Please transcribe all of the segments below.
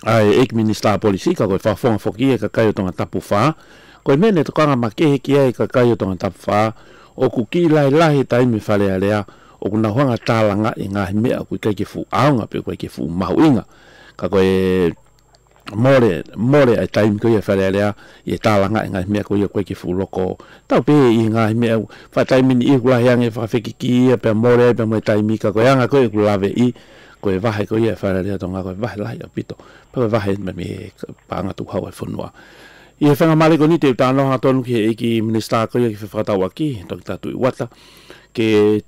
Ae age minister policy ka koe whawhonga whoki e ka kai o tanga tapu wha, koe me ne tokanga ma kehe ki ai ka kai o tanga tapu wha, oku ki lae lahe tai me wharea rea, oku na whanga ta langa e ngahi mea kui kai ke fu aonga pe koe ke fu mahu inga, ka koe e more, more ai tai me koe e wharea rea i e ta langa e ngahi mea koe ia koe ke fu loko tau pe i ngahi mea u wha tai mini i oku lahe ange whakawheki ki ia pea more ai pea moe tai mi ka koe anga koe oku lave i Koe wahe ko ia e whaere rea to nga koe wahe lahi a pito. Pa koe wahe me me pa nga tu hau e whunua. I he whenga mare ko ni te uta anoha tonu ki he iki minister ko ia ki whewhakatawa ki to ki ta tu iwata. Ke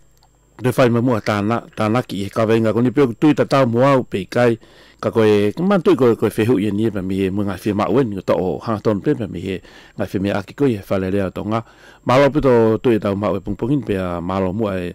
Re whai ma mua ta na ta na ki he kawe inga ko ni peo tu ta tau mua u pe kai ka koe ka man tu koe koe whehu i ni e pa mi e mua nga whi ma uen ko ta o ha ton pe pa mi he nga whi me a ki ko ia whaere rea to nga. Malo pito tu e tau ma ue pungpungin pe a malo mua e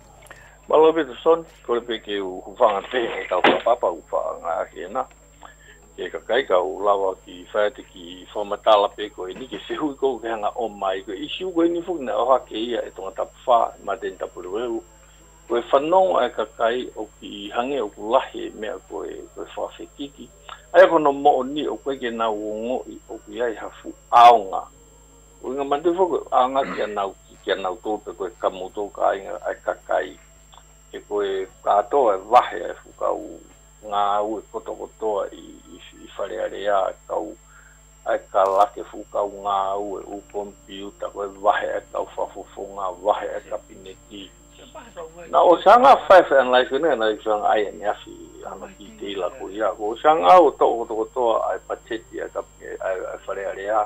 Malo Peterson, kore pe ke u whanga te e ka kua papa u wha nga ake na. Ke ka kai ka u lawa ki whaete ki whamatala pe ko e ni ke sehu i ko u ke hanga o mai ko i siu ko i ni fuki na oha ke ia e tonga tapu wha ma te tapu rewehu. Ko e whanonga e ka kai o ki i hange o ku lahi e mea ko e ko e wha whekiki. Ai ako no mo o ni o koe ke na u o ngo i o ku iai ha fu aonga. Winga Mate Whaka, a nga kia nau, kia nau to pe koe ka mo to ka inga ai ka kai, e koe ka toa e wahe ai fu kau nga au e koto kotoa i, i wharearea ai kau ai ka lake fu kau nga au e u kompiuta koe wahe ai kau whafofonga wahe ai ka pineti na o sa nga five and life ne na i sang ai ne afi ano ki te ila ko ia ko sa nga au to koto kotoa ai pateti ai ka ai wharearea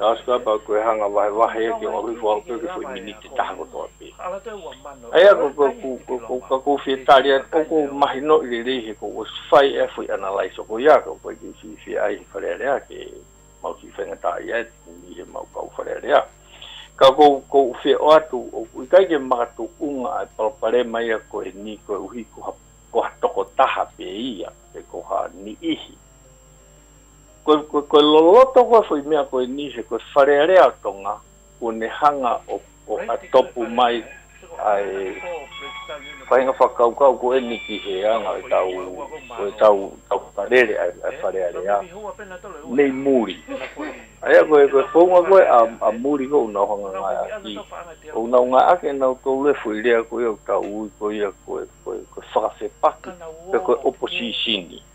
Grasshopper kua hanga wahewahe ki o Ahui Whaope ki whai miniti taha katoa pē. Hei ako kua kū, kua kū, ka kūwhia tāria atu o kou mahi nō i reira i he kou o whai e whai ana lai soko i a kou whai kei whiwhia ai he wharearea kei mau whiwhenga tāia e te kimi i he mau kau wharearea. Ka kou, kou whia o atu o kui kai ke makatu unga e palapare mai a koe he nī koe uhi koha, koha toko taha pē ia, kei koha nī ihi. Koe, koe, koe loloto koe whai mea koe ni he koe wharea-rea tonga ko ne hanga o, o a topu mai ai pahinga whakaukau ko eni ki he anga e tau, koe tau, tau whakarere ai, ai wharea-rea nei muri. Aia koe, koe kounga koe a, a muri kou nau hanga ngai aki, kou nau ngai ake nau tou lefu i rea koe au tau ui koe ia koe, koe, koe whakawhepaki, koe, koe oposisini.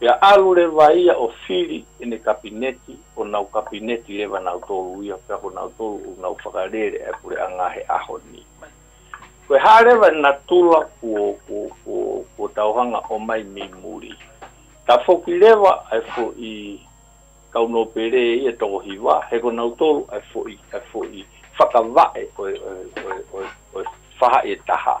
He arorewa ia o Whiri ene kapineti, o nau kapineti rewa nau toru ia, pea ko nau toru u nau whakarere e kore anga he aho ni mai. Koe harewa na tula kuo kuo kuo kuo tauhanga o mai mi muri. Ta foki rewa ai fo i kau no pere ia toko hiwa, he ko nau toru ai fo i ai fo i whakawae oe oe oe oe oe whaha e taha.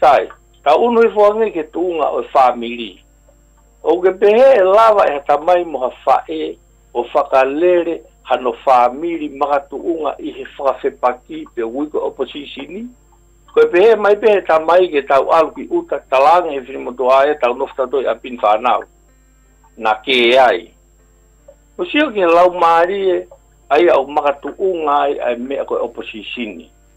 Tae, ka unu i whanga nei ke tuunga o e wha miri. O ke pehe e lawa e hata mai mo ha wha e o whakarere ha no wha miri maha tuunga i he whakawhepa ki te Uigo Oposisini? Ko e pehe mai pea he tama i ke tau alu ki uta talanga he whinimoto a e tau no wtatoi a Pin Whanau? Na ke ai. Ko sio ki he lau marie ai a o maka tuunga ai a e mea ko e Oposisini.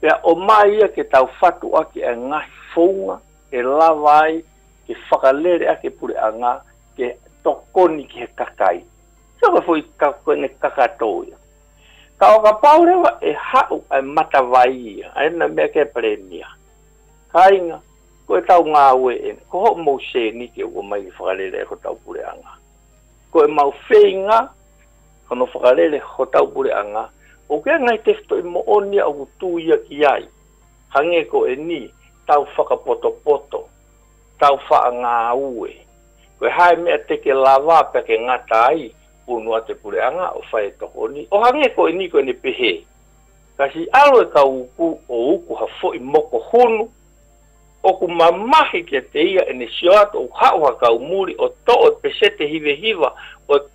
Pea o Maia ke tau whatu ake a ngahi founga e lawa ai ke whakalere ake pure a nga ke tokoni ki he kakai. Kia koe fwoi ka koe ne kakatou ia. Ka o ka paurewa e hau ai matawai ia ai na mea ke Peremia. Kainga, ko e tau nga wee ne, ko ho mou seni ke ua mai i whakalere ai ko tau pure a nga. Ko e mau wheinga. Kano whakarere ho taupure anga, o ke anga i te whto i moonia oku tuiaki ai, ka nge ko e ni, tau whakapotopoto, tau whaanga aue. Ko e hae mea teke lava pea ke ngata ai, punua te pure anga o whai e toko ni, o ha nge ko e ni koe ne pehe. Kasi alo e ka uku o uku ha foi moko hunu, oku mamahi kia te ia e ne sio atu oku hau ha kau muri o too e pese te hivehiva, o e.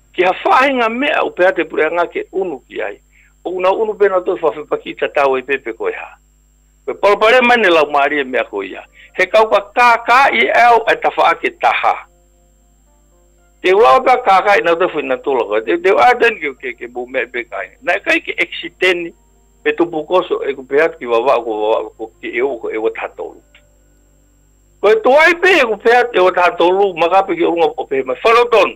Kia whaahi nga mea o pea te pureanga ke unu ki ai. O una unu pena tou wha whepa ki ta tau e pepe koe ha. Koe palapalea mai ne lau maari e mea ko ia. He kauka kaka i au e tawha ake ta ha. Te ula o ta kaka i na tou whi na tola koe. Te ua aten ke ke ke bo mea pe kai. Na kai ke exi teni me to pukoso e ku pea ki vava ko vava ko ke e o ko e wata tolu. Koe to ai pe e ku pea e wata tolu maka pe ki o lunga o pe he mai whalo tonu.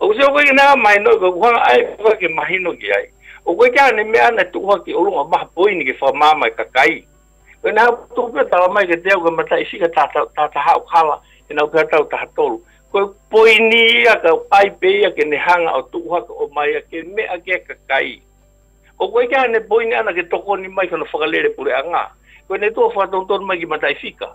O koe tino koke nā mai nō ka uhanga ai ko koe ke mahi noke ai. O koe kia ane mea ana tu uhaki o runga maha poini ke wha mā mai ka kai. Koe nā ko tō pia tala mai ke te au ka mata isi ka tā tā taha o kala e nau pia tau taha tolu. Koe poini ia ka ai pe ia ke nehanga o tu uhaka o maia ke mea ke ka kai. O koe kia ane poini ana ke tokoni mai kono whakalere pure a ngā. Koe ne tua wha tonu tonu mai ki mata isi ka.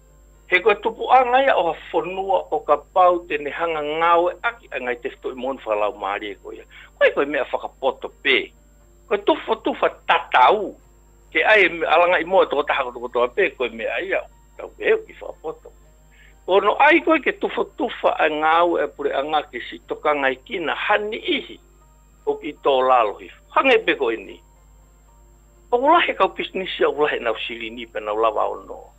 He kua tupu a ngai a oha whanua o ka pau tene hanga ngawe aki a ngai te whto i monu whakalau marie ko ia koe koe mea whakapoto pe koe tuwha tuwha tata u ke ai e me alanga i moe toko taha ko toko toa pe koe mea ia u tau ke eu ki whakapoto ko no ai koe ke tuwha tuwha a ngawe a pure a nga ke si toka ngai kina hani ihi o ki to lalo hi whange pe koe ni o ulahe kau pisnisia ulahe nau sirini pe nau lava o no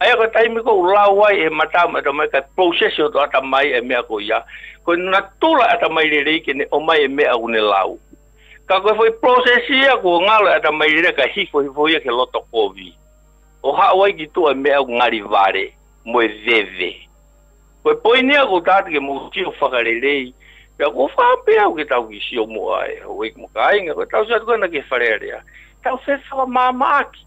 Aia ka taimi kou lau ai he matau me atamai kai process o to atamai e mea ko ia, koe na to lai atamai rere ike ne omai e mea u ne lau. Ka koe foi process ia ko nga lai atamai rere ka hifohifo ia ke loto kovi. O hau ai ki to e mea u ngari vare, moe veve. Koe poini a kou tata ke moti o whakarerei, pea ko whape au ke tau ki si o mo ai, o ik mo ka inga koe tau si atu kana ke wharea rea, tau whewha wa mama aki.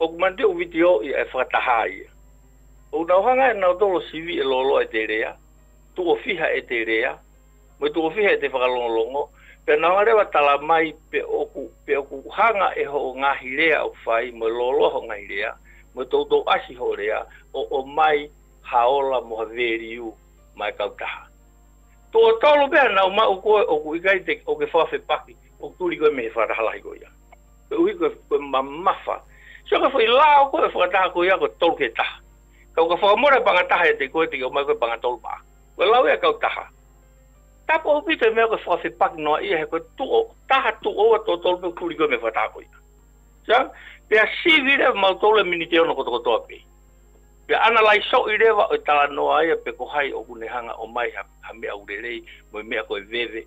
Oku man te owiti o ia e whakataha ai ia. Oku nau hanga e nau tolo siwi e loloa e te rea, tuofiha e te rea, me tuofiha e te whakalongolongo, pea nau nga rewa tala mai pe oku, pe oku hanga e ho o ngahi rea oku whai mo e loloa ho ngahi rea, mo e toutou asi ho rea, o o mai haola mo ha veriu mai kau taha. Tuo tolo pea nau ma u koe oku ika i te o ke whawhe paki, oku turi koe me he whakataha lahi ko ia. He uhi koe, koe ma mawha. Sio ka whai lao koe, whakataha koe ia koe tolu ke taha. Kau ka whakamora panga taha e te koe te kio mai koe panga tolu maa. Koe lao ia kau taha. Tapa upi te mea koe whakawhi paki noa ia he koe tuo, taha tuo wa to tolu pe kuri koe me whakataha koe ia. Sio, pia sivi re mau tolu e minite ono koto koto api. Pia ana lai so i rewa oi tala noa ia pe kohai o kune hanga o mai ha mea urerei, moe mea koe veve,